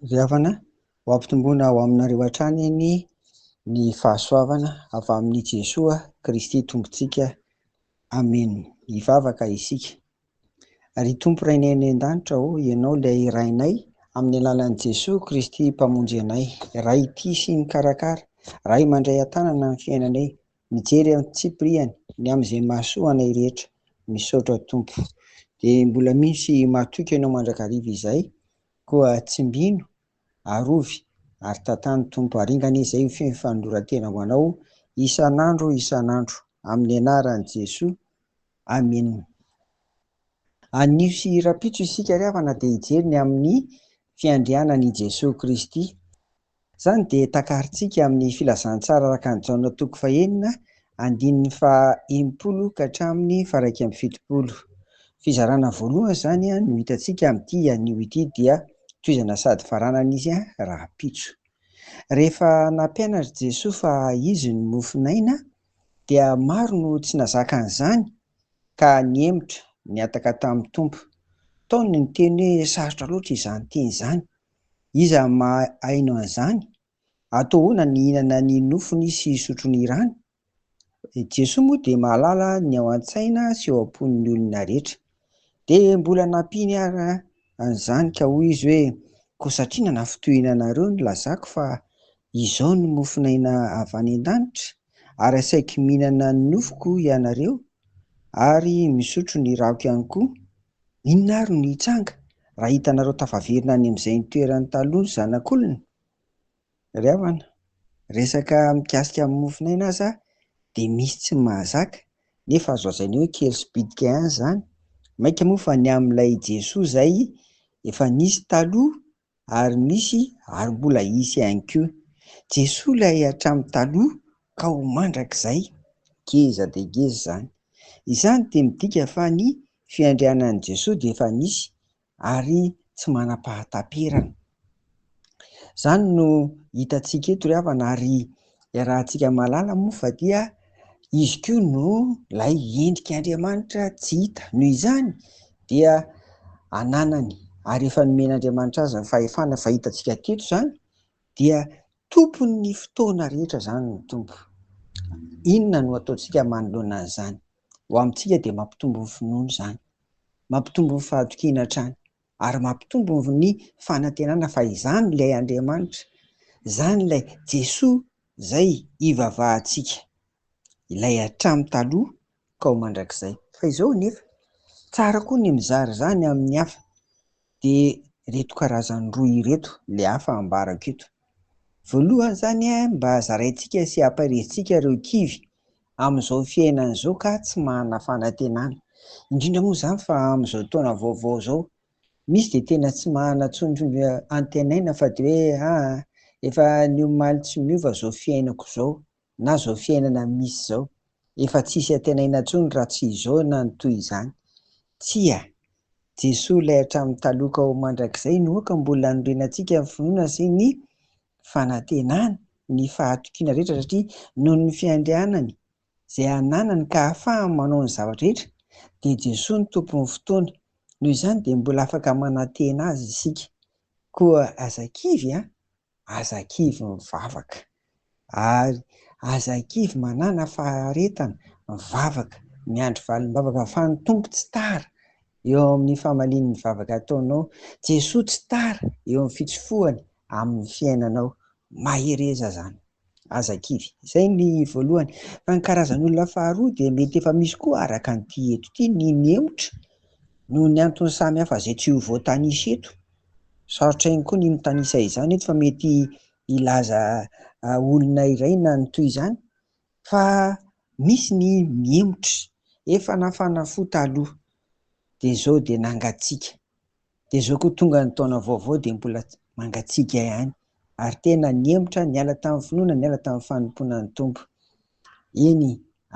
Ry havana, ho ampitomboina ao aminareo hatrany anie ny fahasoavana avy amin'i Jesoa Kristy Tompontsika. Amen. Hivavaka isika. Ry Tompo Rainay any an-danitra ô, Ianao ilay Rainay, amin'ny alalan'i Jesoa Kristy Mpamonjy anay, Ray tia sy mikarakara, Ray mandray an-tanana ny fiainanay, Mijery aho tsipiriany ny amin'izay mahasoa anay rehetra. Misaotra Tompo. Dia mbola misy mahatoky anao mandrakariva izay, koa tsimbino, arovy, ary tantano Tompo, ary inganie izay ho feno fanoloran-tena ho Anao isan'andro isan'andro, amin'ny anaran'i Jesoa, Amena. Anio sy rahampitso isika ry havana dia hijery ny amin'ny fiandrianan'i Jesoa Kristy. Izany dia takarintsika amin'ny filazantsara araka an'i Jaona toko fahenina andininy faha enimpolo ka hatramin'ny faha iraika amby fitopolo. Fizarana voalohany izany no hitantsika amin'ity anio ity dia tohizana sady faranana izy rahampitso. Rehefa nampianatr'i Jesoa fa Izy no mofon'aina dia maro no tsy nazaka an'izany ka nihemotra, nihataka tamin'ny Tompo. Tao ny niteny hoe sarotra loatra izany teny izany. Iza no mahaino an'izany? Atooana ny hihinana ny nofony sy hisotro ny rany? Jesoa moa dia mahalala ny ao an-tsaina sy eo am-pon'ny olona rehetra. Dia mbola nampiany ary an'izany ka hoy Izy hoe, Koa satria nanafintohina anareo ny lazako fa izao no mofon'aina avy any an-danitra, ary asaiky mihinana ny nofoko ianareo ary misotro ny rako ihany koa, Inona ary no hitranga raha hitanareo tafaverina any amin'izay ny toerany taloha ny zanak'olona? Ry havana, resaka mikasika ny mofon'aina aza dia misy tsy mahazaka, nefa azo lazaina hoe kely sy bitika ihany izany, mainka moa fa ny amin'ilay Jesoa izay efa nisy taloha ary misy ary mbola hisy ihany koa. Jesoa ilay hatramin'ny taloha ka ho mandrakizay. Ngeza dia ngeza izany. Izany dia midika fa ny fiandrianan'i Jesoa dia efa nisy ary tsy manam-pahataperana. Izany no hitantsika eto ry havana ary Iarahantsika mahalala moa fa dia Izy koa no ilay endrik'Andriamanitra tsy hita. Noho izany dia ananany ary efa nomen'Andriamanitra azy ny fahefana efa hitantsika teto izany dia tompon'ny fotoana rehetra izany ny Tompo. Inona no ataontsika manoloana an'izany? Ho amintsika dia mampitombo ny finoana izany, mampitombo ny fahatokiana hatrany. ary mampitombo ny fanantenana fa izany ilay Andriamanitra, izany ilay Jesoa izay hivavahantsika, ilay hatramin'ny taloha ka ho mandrakizay. Fa izao anefa, tsara koa ny mizara izany amin'ny hafa, dia ireto karazany roa ireto ilay hafa ambarako eto. Voalohany izany, mba zaraintsika sy amparihintsika ireo kivy Amin'izao fiainana izao kah tsy manana fanantenana, indrindra moa izany fa amin'izao taona vaovao izao, misy dia tena tsy manana intsony antenaina fa dia hoe aa efa ny omaly tsy miova izao fiainako izao na izao fiainana misy izao, efa tsisy antenaina intsony raha tsy izao na ny toy izany. Tsia, Jesoa ilay hatramin'ny taloha ka ho mandrakizay no aoka mbola hanorenantsika ny finoana sy ny fanantenany ny fahatokiana rehetra satria noho ny fiandrianany izay ananany ka ahafahany manao ny zavatra rehetra dia Jesoa no Tompon'ny fotoana. Noho izany dia mbola afaka manantena Azy isika. Koa aza kivy an! Aza kivy mivavaka. Ary aza kivy manana faharetana mivavaka, miandry valim-bavaka fa ny Tompo tsy tara eo amin'ny famalian'ny vavaka ataonao. Jesoa tsy tara eo amin'ny fitsofohany amin'ny fiainanao mahereza zany aza kivy. Izay ny voalohany. Fa ny karazan'olona faharoa dia mety efa misy koa araka an'ity eto ity ny mihemotra noho ny antony samy hafa izay tsy ho voatanisa eto. Sarotra ihany koa ny mitanisa izany eto fa mety hilaza olona iray na ny toy izany fa misy ny mihemotra efa nafana fo taloha dia izao dia nangatsiaka. Dia zao koa tonga ny taona vaovao dia mbola mangatsiaka ihany ary tena nihemotra niala tamin'ny finoana niala tamin'ny fanompoana ny Tompo. Eny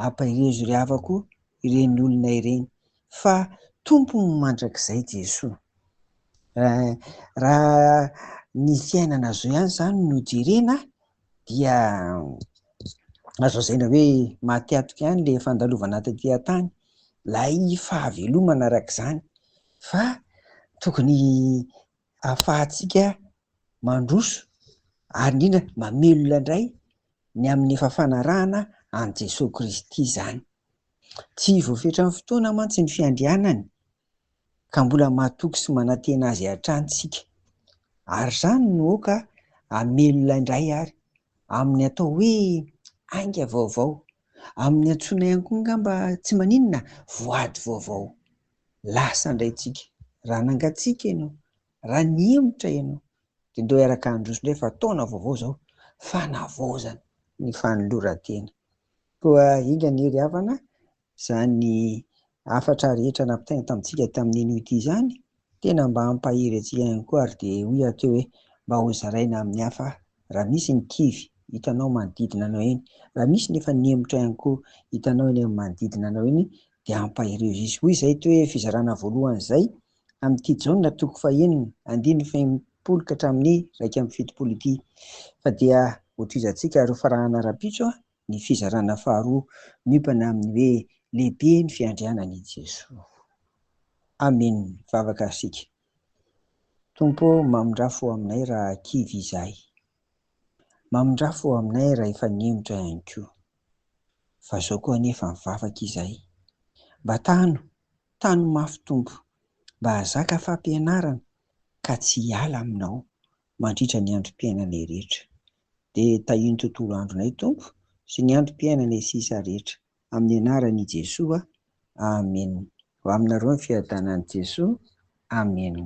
ampahirizo ry havako ireny olona ireny fa Tompo mandrakizay Jesoa. Raha ny fiainana zao ihany zany no jerena dia azo lazaina hoe maty antoka ihany ilay fandalovana taty an-tany, ilay fahavelomana araka izany fa tokony hahafahantsika mandroso ary indrindra mamelona indray ny amin'ny efa fanarahana an'i Jesoa Kristy izany. Tsy voafetran'ny fotoana mantsy ny fiandrianany ka mbola matoky sy manantena azy hatrany tsika ary izany no aoka hamelona indray ary amin'ny atao hoe ainga vaovao, amin'ny antsoina ihany koa angamba tsy maninona voady vaovao. Lasa indray tsika, raha nangatsiaka ianao, raha nihemotra ianao dia ndao hiaraka handroso indray fa taona vaovao izao, fanavaozana ny fanoloran-tena. Koa enga anie ry havana Izany hafatra rehetra nampitainy tamintsika tamin'iny ody izany, tena mba hampahery antsika ihany koa ary dia hoy aho teo hoe mba hozaraina amin'ny hafa raha misy ny kivy hitanao manodidina anao eny, raha misy ny efa nihemotra ihany koa hitanao eny amin'ny manodidina anao eny dia ampaherio izy izy. Hoy izay toe fizarana voalohany izay amin'ity Jaona toko fahenina andininy fahenimpolo ka hatramin'ny iraika amby fitopolo ity. Fa dia hotohizantsika ary hofarahana rahampitso Ny fizarana faharoa miompana amin'ny hoe lehibe ny fiandrianan'i Jesoa. Amen vavaka isika. Tompo ô mamindrà fo aminay raha kivy izahay. Mamindrà fo aminay raha efa nihemotra ihany koa. Fa zao koa anefa mivavaka izahay. Mba tano, tano mafy Tompo, mba hazaka fampianarana ka tsy hiala aminao mandritra ny androm-piainanay rehetra. Dia tahio ny tontolo andronay, Tompo, sy ny androm-piainanay sisa rehetra. Amin'ny Anaran' i Jesoa, amena. Ho aminareo ny fiadanan'i Jesoa, amena.